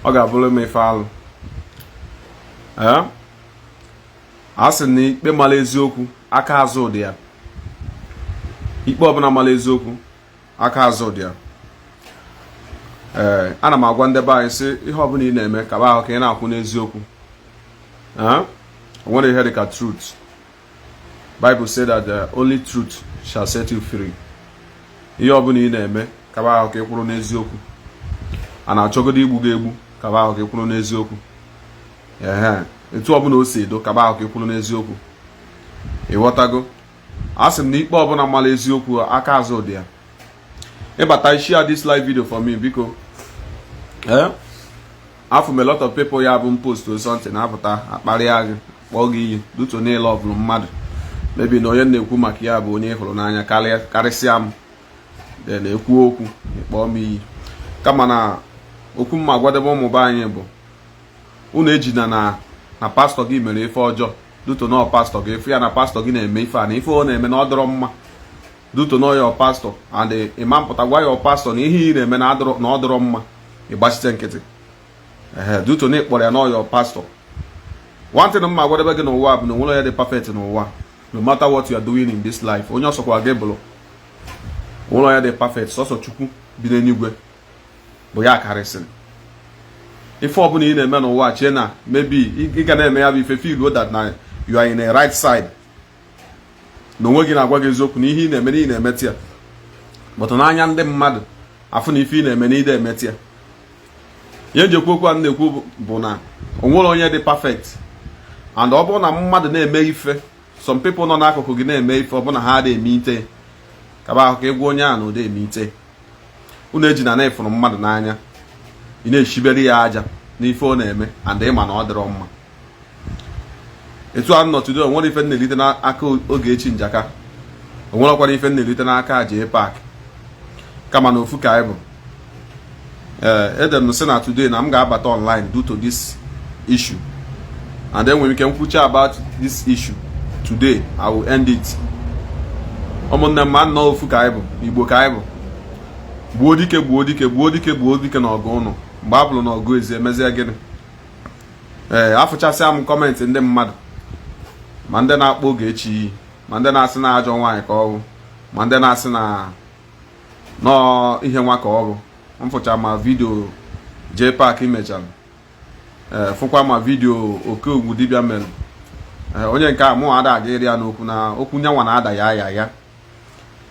ọ ga-abụrụ m ife alụ a sị na ikpe mara eziokwu aka azụ dị ya ikpe ọbụla mara eziokwu aka azụ dị ya ee ana m agwa ndị be anyị sị ihe ọbụla ị na-eme kaba ahụ ka ị na-akwụ n'eziokwu o nwerọ ihe dị ka truth Bible say that the only truth shall set you free. ihe ọbụla ị na-eme kaba ahụ ka ị kwụrụ n'eziokwu a na-achọgodo igbu gị egbu kaba ahụ ka ị kwụrụ n'eziokwu ee etu ọbụla o si edo kaba ahụ ka ị kwụrụ n'eziokwu ịghọtago a sị m na ikpe ọbụla mara eziokwu aka azụ dị ya ịbata share this live video for me biko ee afụ m a lot of people ya bụ ị postụọ something na-apụta akparịa gị kpọọ gị iyi due to niile ọ bụrụ mmadụ maybe na onye na-ekwu maka ya bụ onye hụrụ n'anya karịsịa m na-ekwu okwu kpọọ m iyi kama na okwu m ma-agwadebe ụmụ be anyị bụ unu ejina na na pastor gị mere ife ọjọọ due to na pastor gị ị fụ ya na pastor gị na-eme ife a na ife ọ na-eme na ọ dịrọ mma due to na ọ your pastor and ị ma apụta gwa your pastor na ihe ị na-eme na ọ dịrọ mma ị gbachite nkịtị ehe due to na ị kpọrọ ya na ọ your pastor one thing m ma-agwadebe gị n'ụwa bụ na o nwerọ onye dị perfect n'ụwa no matter what you are doing in this life onye ọ sọkwa gị bụrụ o nwerọ onye dị perfect sọsọ chukwu bi n'eluigwe bụ ya karịsịrị ife ọbụla ị na-eme n'ụwa chee na maybe ị ga na-eme ya bụ ife feeluo that na you are in a right side na onwe gị na-agwa gị eziokwu na ihe ị na-eme na ị na-emete ya but n'anya ndị mmadụ afụ na ife ị na-eme na ị dị emete ya ihe m ji ekwu okwu a m na-ekwu bụ na o nwerọ onye dị perfect and ọ bụrụ na mmadụ na-eme ife some people nọ n'akụkụ gị na-eme ife ọ bụrụ na ha adịghị emete kaba ahụ ka ị gwa onye a na ọ dị emete unu ejina na ị fụrụ mmadụ n'anya ị na-echibere ya aja n'ife ọ na-eme and ị ma na ọ dịrọ mma etu a nọ today o nwerọ ife m na-elite n'aka Ogechi Njaka o nwerọkwara ife m na-elite n'aka Jpac kama na ofu ka anyị bụ ee ede m sị na today na m ga-abata online due to this issue and then nwere ike m kwuchie about this issue today i will end it ụmụnne m na ofu ka anyị bụ igbo ka anyị bụ gbuo dike gbuo dike gbuo dike gbuo dike n'ọgụ ụnọ mgbe ọ bụrụ n'ọgụ ezi e mezie gịnị ee afụchasịa m comment ndị mmadụ ma ndị na-akpọ Ogechi iyi ma ndị na-asị na ajọ nwaanyị ka ọ bụ ma ndị na-asị na nọọ ihe nwa ka ọ bụ m fụcha ma vidio JPAC mechara eh, fụkwa ma vidio oke ọgwụ dibịa mere eh, onye nke a mụ ada aga ịrịa n'okwu na okwu nyanwa na ada ya ya ya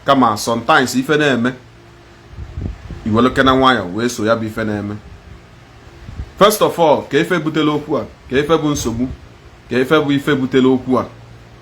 kama sometimes ife na-eme i welekene nwayọ wee so ya bụ ife na-eme first of all kee ife butere okwu a kee ife bụ nsogbu kee ife bụ ife butere okwu a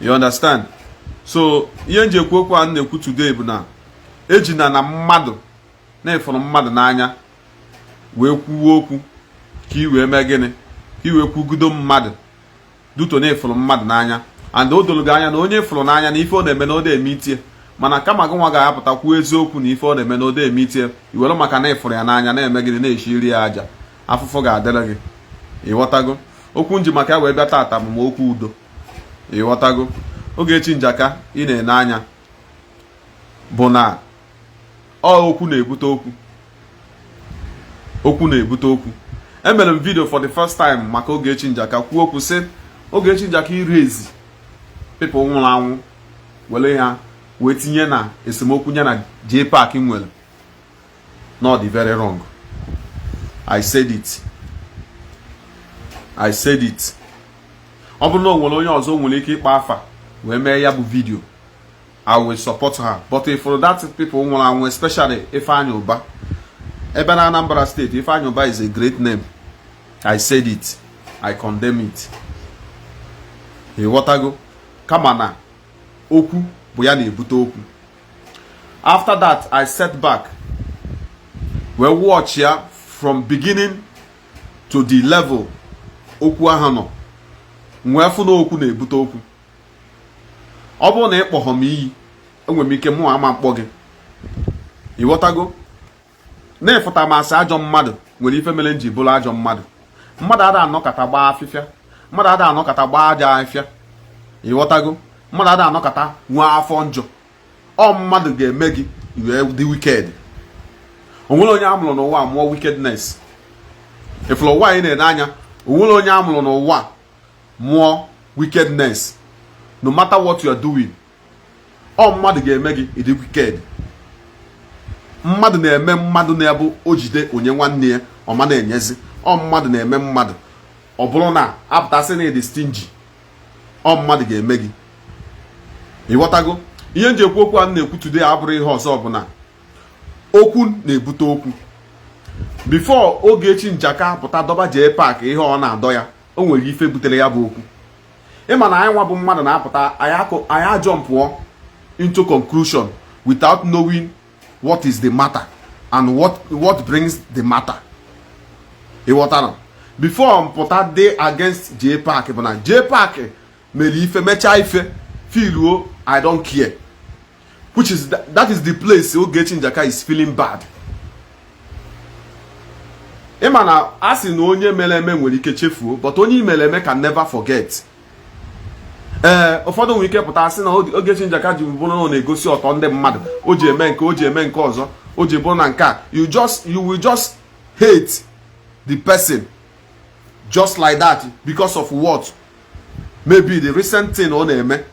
you understand so ihe nji ekwu okwu a m na-ekwu today bụ na ejina na mmadụ na ịfụrụ mmadụ n'anya wee kwuwe okwu ka i wee mee gịnị ka i wee kwugudo mmadụ due to na ịfụrụ mmadụ n'anya and o doro gị anya na onye ịfụrụ n'anya na ife ọ na-eme na ọ da emeta ya mana kama gị nwa ga-apụta kwuo eziokwu na ife ọ na-eme na ọ da emeta ya i were maka na ịfụrụ ya n'anya na-eme gịnị na-eshiri ya aja afụfụ ga-adịrị gị ịghọtago okwu nji maka ya wee bịa taata bụ ma okwu udo ịghọtago Ogechi Njaka ị na-ene anya bụ na ọ okwu na-ebute okwu okwu na-ebute okwu emere m vidio for the first time maka Ogechi Njaka kwuo okwu sị Ogechi Njaka ị raise people nwụrụ anwụ were ya wee tinye na esemokwu ya na JPAC nwere na ọ dị very wrong i said it i said it ọ bụrụ na o nwere onye ọzọ nwere ike ịkpọ afa wee mee ya bụ vidio i will support her but if for that people nwụrụ anwụ especially Ifeanyi Uba even na Anambra state Ifeanyi Uba is a great name i said it i condemn it ịghọtago kama na okwu bụ ya na-ebute okwu after that i sat back wee watch ya from beginning to the level okwu ahụ nọ m wee fụ na okwu na-ebute okwu ọ bụrụ na ị kpọghọ m iyi enwere m ike mụ ama mkpọ gị ịghọtago na ịfụta m asị ajọ mmadụ nwere ife mere m ji bụrụ ajọ mmadụ mmadụ ada anọkata gbaa afịfịa mmadụ ada anọkata gbaa aja afịfịa ịghọtago mmadụ ada anọkata nwee afọ njọ ọ mmadụ ga-eme gị i wee dị wicked o nwerọ onye amụrụ n'ụwa mụọ wickedness ịfụrụ ụwa a ị na-ene anya o nwerọ onye amụrụ n'ụwa mụọ wickedness no matter what you are doing ọ mmadụ ga-eme gị ịdị wicked mmadụ na-eme mmadụ na-abụ o jide onye nwanne ya ọ ma na-enyezi ọ mmadụ na-eme mmadụ ọ bụrụ na apụta sị na ịdị stingy ọ mmadụ ga-eme gị ịghọtago ihe m ji ekwu okwu a m na-ekwu today abụrọ ihe ọzọ ọbụla okwu na-ebute okwu before Ogechi Njaka pụta dọba JPAC ihe ọ na-adọ ya o nwere ife butere ya bụ okwu ịma na anyị nwa bụ mmadụ na-apụta anyị ajọmpụọ into conclusion without knowing what is the matter and what brings the matter ịghọtara before m pụta dị against Jpac bụ na Jpac mere ife mechaa ife filuo I don't care which is that, that is the place Ogechi Njaka is feeling bad ịma na a sị na onye mere eme nwere ike chefuo but onye e mere eme can never forget ee eh, ụfọdụ nwere ike pụta sị na Ogechi Njaka ji bụrụ na ọ na-egosi ọtọ ndị mmadụ o ji eme nke o ji eme nke ọzọ o ji bụrụ na nke a you will just hate the person just like that because of what maybe the recent thing ọ na-eme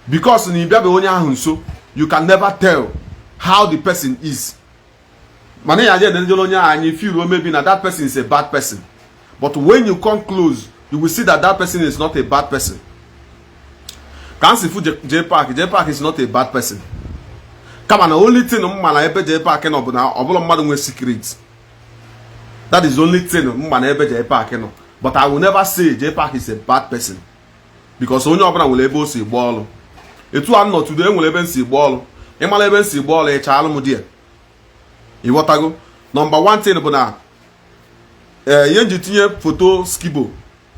because na ịbịabe onye ahụ nso you can never tell how the person is mana anya jee n'onye ahụ anyị feel maybe na that person is a bad person but when you come close you will see that that person is not a bad person ka m si fụ Jpac Jpac is not a bad person kama na only thing m ma na ebe Jpac nọ bụ na ọ bụla mmadụ nwee secret that is only thing m ma na ebe Jpac nọ but I will never say Jpac is a bad person because onye ọbụla nwere ebe o si gba ọlụ etu a nọ today enwere ebe m si gba ọlụ ị mala ebe m si gba ọlụ ịcha alụ m di ya ịghọtago number one thing bụ na ee eh, ihe m ji tinye foto Skibo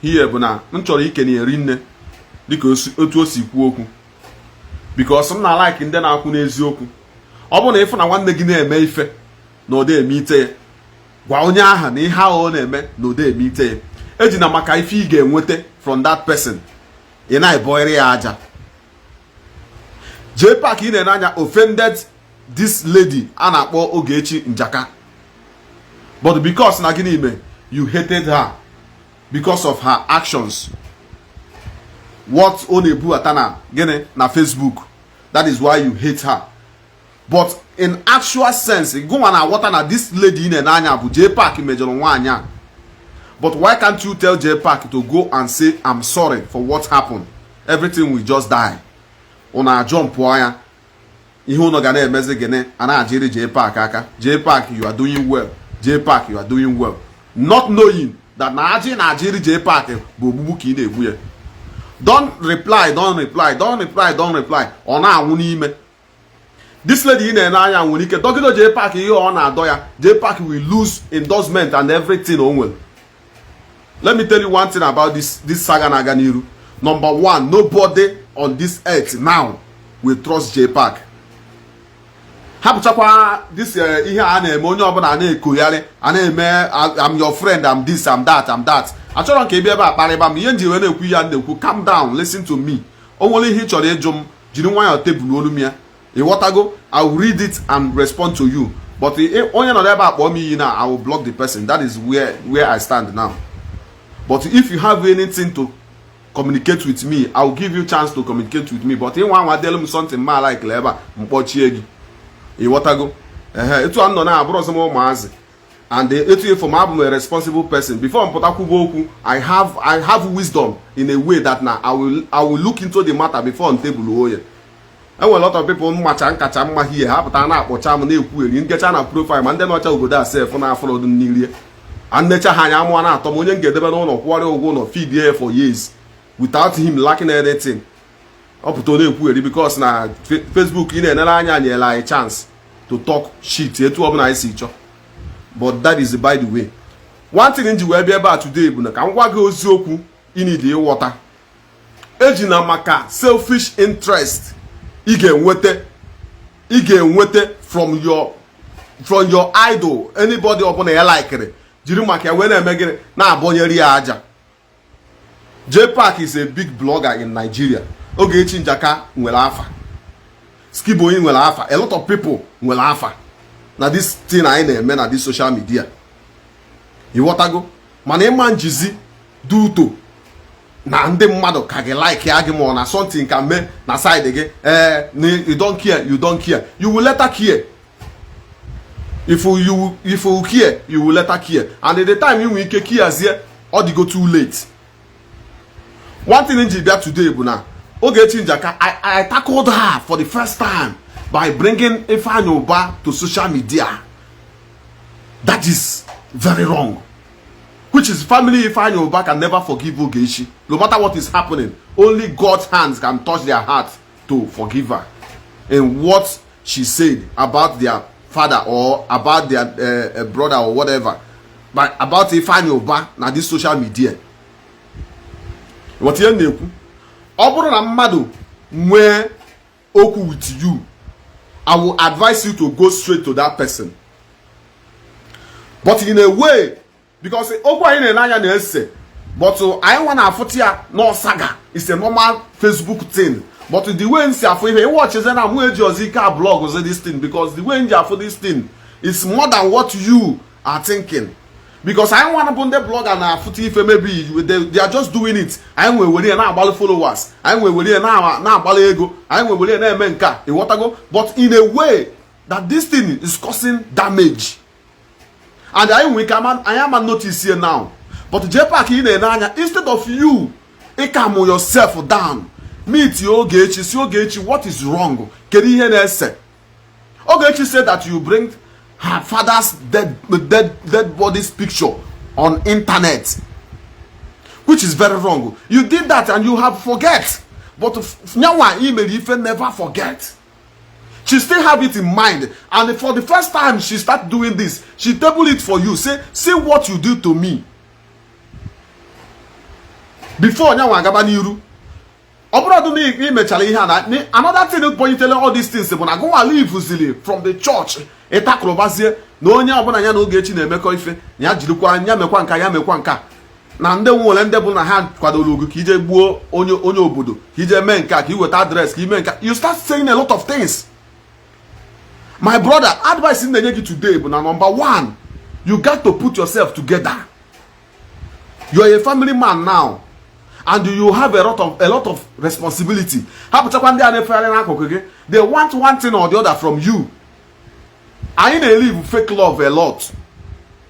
here bụ na m chọrọ ikene ya rinne dịka otu o si kwuo okwu because m na like ndị na-akwụ n'eziokwu ọ bụrụ na ị fụ na nwanne gị na-eme ife na ọ dị emete ya gwa onye ahụ na ihe ahụ ọ na-eme na ọ dị emete ya ejina maka ife ị ga-enweta from that person ị na-ebọịrị ya aja Jpac ị na-ene anya offended this lady a na-akpọ Ogechi Njaka but because na gịnị ime you hated her because of her actions what ọ na-ebubata na gịnị na Facebook that is why you hate her but in actual sense gụnwa na-aghọta na this lady ị na-ene anya bụ Jpac mejọrọ nwaanyị a but why can't you tell Jpac to go and say I'm sorry for what happened everything will just die unu ajọmpụ ya ihe unu ga na-emezi gịnị a na-ajiri Jpac aka Jpac you are doing well Jpac you are doing well not knowing that na aja ị na-ajiri Jpac bụ ogbugbu ka ị na-egbu ya don't reply don't reply don't reply don't reply ọ na-anwụ n'ime this lady ị na-ene anya nwere ike dọgido Jpac ihe ọ na-adọ ya Jpac will lose endorsement and everything o nwere let me tell you one thing about this this saga na-aga n'iru number one nobody on this earth now will trust Jpac hapụchakwa this eh, ihe a na-eme onye ọbụla na-ekoyarị a na-eme am your friend am this am that am that achọrọ m ka ị bịa ebe a kparịba m ihe m ji wee na-ekwu ya na-ekwu calm down listen to me o nwere ihe ị chọrọ ịjụ m jiri nwayọọ table-ọlụ m ya ịghọtago i will read it and respond to you but onye nọ ebe a kpọọ m iyi na i will block the person that is where where i stand now but if you have anything to communicate with me i will give you chance to communicate with me but ịnwa anwa delu m something ma like ebe a m kpọchie gị ịghọtago ehe etu a nọ na abụrọzi m ụmụazị and etu ị fụ m abụ m a responsible person before m pụta kwuba okwu i have i have wisdom in a way that na i will i will look into the matter before m table ya e nwere lot of people m macha m kacha mma hie ha pụta na-akpọcha m na-ekwugheri nkecha na profile ma ndị nọcha obodo a sef na-afụrọdụ nri rie m necha ha anya amụ ana-atọ m onye m ga-edebe n'ụlọ kwụọrọ ya ụgwọ ụlọ feed ya for years without him lacking anything ọ pụta ọ na-ekwugheri because na Facebook ị na-enere anya nyere anyị chance to talk shit etu ọbụla anyị si chọọ but that is by the way one thing m ji wee bịa ebe a today bụ na ka m gwa gị eziokwu ị need ịghọta ejina maka selfish interest ị ga-enweta ị ga-enweta from your from your idol anybody ọbụla ị likere jiri maka ya wee na-eme gịnị na-abọnyere ya aja Jpac is a big blogger in Nigeria Ogechi Njaka nwere afa Skiboyi nwere afa a lot of people nwere afa na this thing anyị na-eme na this social media ịghọtago mana ị ma-ejizi due to na ndị mmadụ ka ga-like gị mana something ka mee na side gị ee eh, you don't care you don't care you will later care if you if you care you will later care and at the time you nwere ike kiazie ọ dịgo too late one thing ji bịa today bụ na oge echi njaka I, I tackled her for the first time by bringing Ifeanyi Uba to social media that is very wrong which is family Ifeanyi Uba can never forgive Ogechi no matter what is happening only God's hands can touch their heart to forgive her in what she said about their father or about their uh, uh, brother or whatever but about Ifeanyi Uba na this social media ịghọta ihe m na-ekwu ọ bụrụ na mmadụ nwee okwu with you I will advise you to go straight to that person but in a way because okwu anyị na-ele anya na-ese but anyị nwa na-afụta ya na ọ saga it's a normal Facebook thing but the way m si afụ ihe ị watchizie na mụ ejirọzi ike ablogzi this thing because the way m ji afụ this thing is more than what you are thinking because anyị nwa bụ ndị blogger na-afụta ife maybe they are just doing it anyị nwa ewere ya na-akpalị followers anyị nwa ewere ya na-akpalị ego anyị nwa ewere ya na-eme nke a ịghọtago but in a way that this thing is causing damage and anyị nwere ike anyị ama notice ye now but Jpac ị na-ene anya instead of you ịcalm yourself down meet Ogechi sị Ogechi what is wrong kedu ihe na-ese Ogechi said that you bring her father's dead, dead, dead body's picture on internet which is very wrong you did that and you have forget but nyanwa i mere ife never forget she still have it in mind and for the first time she start doing this she table it for you say see what you do to me before nyanwa agaba n'iru ọ bụrọdụ na i mechara ihe a na another thing bunyitele all these things bụ na gụnwa leavezili from the church ị takụrụbazie na onye ọbụla ya na Ogechi na-emekọ ife ya jirikwa ya mekwa nka ya mekwa nka na ndị nwere ndị bụ na ha kwadoro gị ka i je gbuo onye onye obodo ka i je mee nke a ka i weta address ka i mee nke a you start saying a lot of things my brother advice m na-enye gị today bụ na number one you got to put yourself together you are a family man now and you have a lot of a lot of responsibility hapụchakwa ndị a na-efegharị n'akụkụ gị they want one thing or the other from you anyị na-elive fake love a lot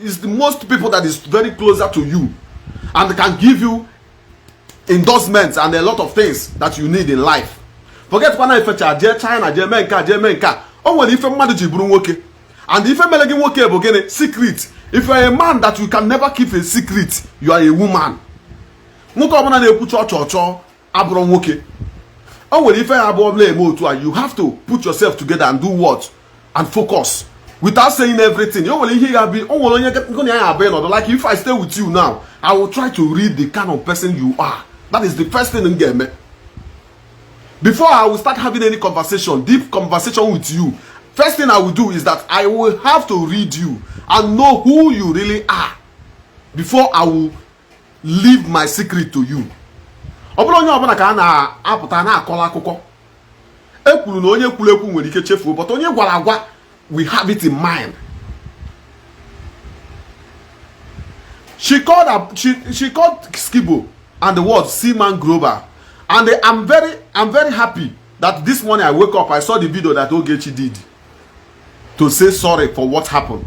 is the most people that is very closer to you and can give you endorsements and a lot of things that you need in life forget kwa na i fecha jee China jee mee nke a jee mee nke a o nwere ife mmadụ ji bụrụ nwoke and ife mere gị nwoke bụ gịnị secret if you are a man that you can never keep a secret you are a woman nwoke ọbụla na-ekwu chọ chọ chọ abụrọ nwoke o nwere ife ya abụọ bụla eme otu a you have to put yourself together and do what and focus without saying everything o nwere ihe ya bụ o nwere onye ngị na ya abụ ị nọdụ like if I stay with you now I will try to read the kind of person you are that is the first thing m ga-eme before I will start having any conversation deep conversation with you first thing I will do is that I will have to read you and know who you really are before I will leave my secret to you ọ bụrọ onye ọbụla ka a na-apụta na-akọrọ akụkọ e kwuru na onye kwuru ekwu nwere ike chefuo but onye a gwara agwa will have it in mind she called up, she, she called Skibo and the word Seaman Grover and they, I'm very I'm very happy that this morning I wake up I saw the video that Ogechi did to say sorry for what happened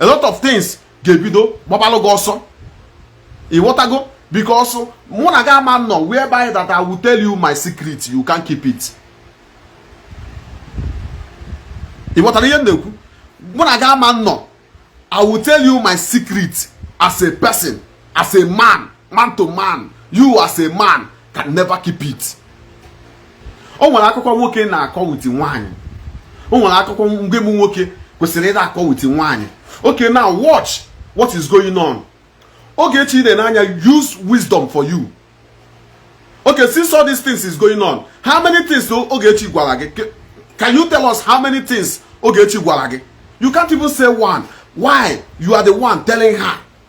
a lot of things ga-ebido gbabalụ gị ọsọ ị ghọtago because mụ na gị ama nọ whereby that I will tell you my secret you can't keep it ị ghọtara ihe m na-ekwu mụ na gị ama nọ I will tell you my secret as a person as a man man to man you as a man can never keep it o nwere akụkọ nwoke na-akọ with nwaanyị o nwere akụkọ mgbe m nwoke kwesịrị ịda akọ with nwaanyị okay now watch what is going on Ogechi ị na-ene anya use wisdom for you okay since all these things is going on how many things Ogechi gwara gị can you tell us how many things Ogechi gwara gị you can't even say one why you are the one telling her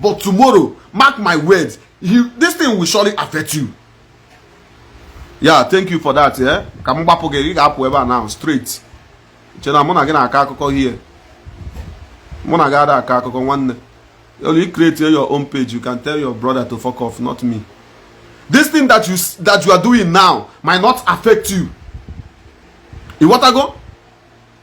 but tomorrow mark my words this thing will surely affect you yeah thank you for that eh? ka m gbapụ gị ị ga-apụ ebe a now straight che na mụ na gị na-akọ akụkọ here mụ na gị ada akọ akụkọ nwanne only create your own page you can tell your brother to fuck off not me this thing that you that you are doing now might not affect you ịghọtago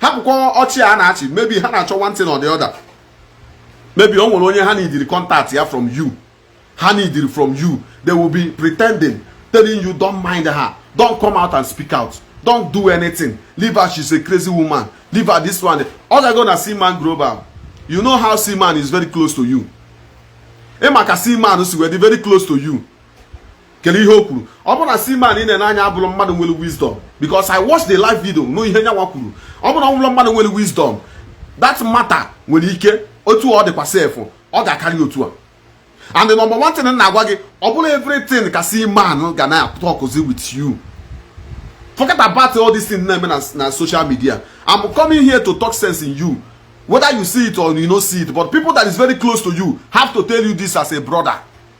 hapụkwa ọchị a na-achị maybe ha na-achọ one thing or the other maybe o nwere onye ha needịrị contact ya from you ha needịrị from you they will be pretending telling you don't mind her don't come out and speak out don't do anything leave her she's a crazy woman leave her this one ọ ga-go na Seaman Global you know how Seaman is very close to you ị ma ka Seaman si wee dị very close to you kedu ihe o kwuru ọ bụrụ na Seaman ị na-ene anya abụrụ mmadụ nwere wisdom because I watched the live video nụ ihe nyanwa kwuru ọ bụrụ na ọ bụrụ mmadụ nwere wisdom that matter nwere ike otu ọ dịkwa sef ọ ga-akarị otu a and the number one thing m na-agwa gị ọ bụrọ everything ka Seaman ga na-atọkụzi with you forget about all this thing na-eme na social media I'm coming here to talk sense in you whether you see it or you no see it but people that is very close to you have to tell you this as a brother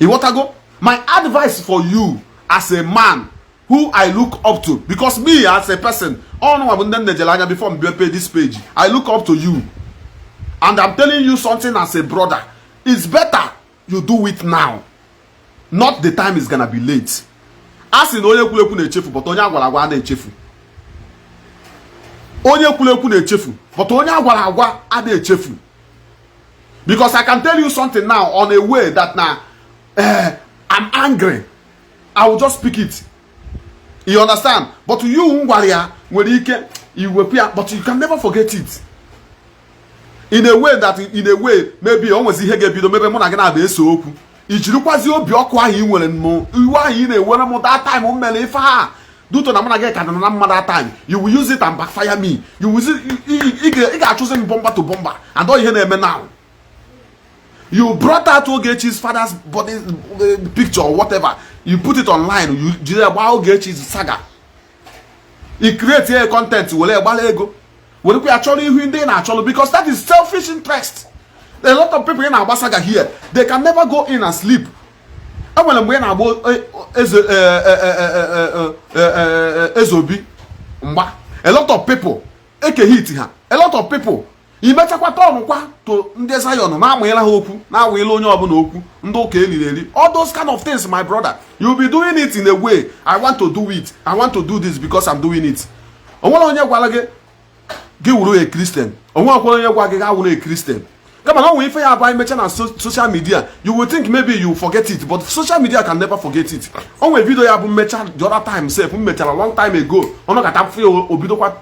ịghọtago my advice for you as a man who i look up to because me as a person ụnụnwa bụ ndị m nejere anya before m mepee this page i look up to you and i'm telling you something as a brother it's better you do it now not the time is gonna be late a sị na onye kwuru ekwu na-echefu but onye agwara agwa a na-echefu onye kwuru ekwu na-echefu but onye agwara agwa a na-echefu because i can tell you something now on a way that na uh, i'm angry i will just speak it you understand but you m gwara ya nwere ike iwepụ ya but you can never forget it in a way that in a way maybe o nwezi ihe ga-ebido mebe mụ na gị na-abịa ese okwu i jirikwazi obi ọkụ ahụ ị nwere m iwe ahụ ị na-ewere m that time m mere ife a due to na mụ na gị ka dị na mma that time you will use it and backfire me you will ị ga-achụzi m bumper to bumper and ọ ihe na-eme now you brought out Ogechi's father's body uh, picture or whatever you put it online you jide gbaa Ogechi's saga i create a content were gbara ego werekwa ya chọrọ ihu ndị ị na-achọrọ because that is selfish interest a lot of people ị na-agba saga here they can never go in and sleep e nwere mgbe a na-agba Ezeobi mgba a lot of people eke hate ha a lot of people imechakwa tọnụkwa to ndị Zion na-amụnyela ha ọkụ na-amụnyela onye ọbụla ọkụ ndị ụka eliri eri all those kind of things my brother you be doing it in a way I want to do it I want to do this because I'm doing it o nwere onye gwara gị gị wụrụ a Christian o nwekwara onye gwa gị gị wụrụ a Christian kama na o nwe ife ya bụ anyị mechaa na social media you will think maybe you forget it but social media can never forget it o nwe vidio ya bụ m mechaa the other time sef m mechara long time ago ọ nọkata mfe o bidokwa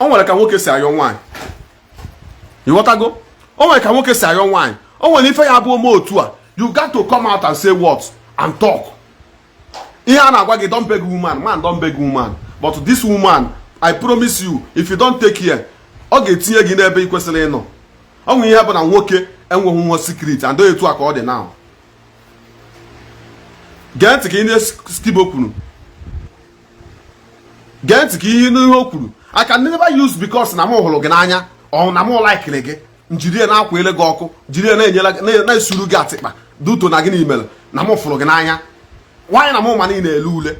o nwere ka nwoke si ayọ nwaanyị ịghọtago o nwere ka nwoke si ayọ nwaanyị o nwere ife ya bụ o mee otu a you got to come out and say what and talk ihe a na-agwa gị don't beg woman man don't beg woman but this woman i promise you if you don't take care ọ ga-etinye gị n'ebe ị kwesịrị ịnọ o nwere ihe bụ na nwoke enweghị nwa secret and etu a ka ọ dị now gee ntị ka ihe Skibo kwuru gee ntị ka ihe n'ihe o kwuru I can never use because na m hụrụ gị n'anya or na m laikiri gị m jiri ya na-akwa ele gị ọkụ jiri ya na-enyere na-esuru gị atịkpa duto na gị na imere na m fụrụ gị n'anya nwaanyị na m ma na ị na-ele ule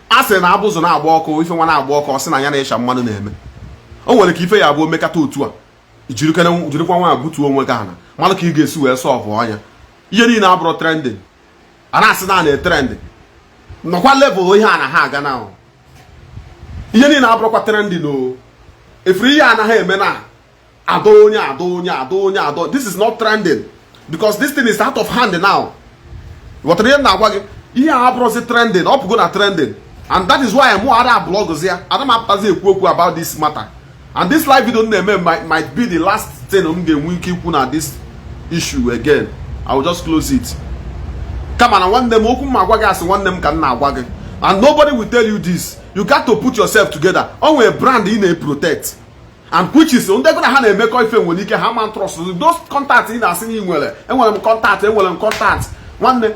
a sịrị na abụzụ na-agba ọkụ ife nwa na-agba ọkụ ọ sị na ya na-asha mmanụ na-eme o nwere ka ife ya bụ o mekata otu a jirikwa nwayọ butuo onwe gị ana malụ ka ị ga-esi wee solve ya ihe niile abụrọ trending a na-asị na a na-etrend nọkwa level ihe anaha aga na ihe niile abụrọkwa trending o ị fụrụ ihe anaghị eme na adọ onye adọ onye adọ onye adọ this is not trending because this thing is out of hand now ị ghọtara ihe m na-agwa gị ihe a abụrọzi trending ọ pụgo na trending and that is why mụ ada blọgụzi ya ada m apụtazi ekwu okwu about this matter and this live video m na-eme might be the last thing m ga-enwe ike ikwu na this issue again i will just close it kama na nwanne m okwu m agwa gị as nwanne m ka m na-agwa gị and nobody will tell you this you got to put yourself together o nwere brand ị na-protect and which is ndị gị na ha na-emekọ ife nwere ike ha ma trust those contact ị na-asị na ị nwere enwere m contact enwere m contact nwanne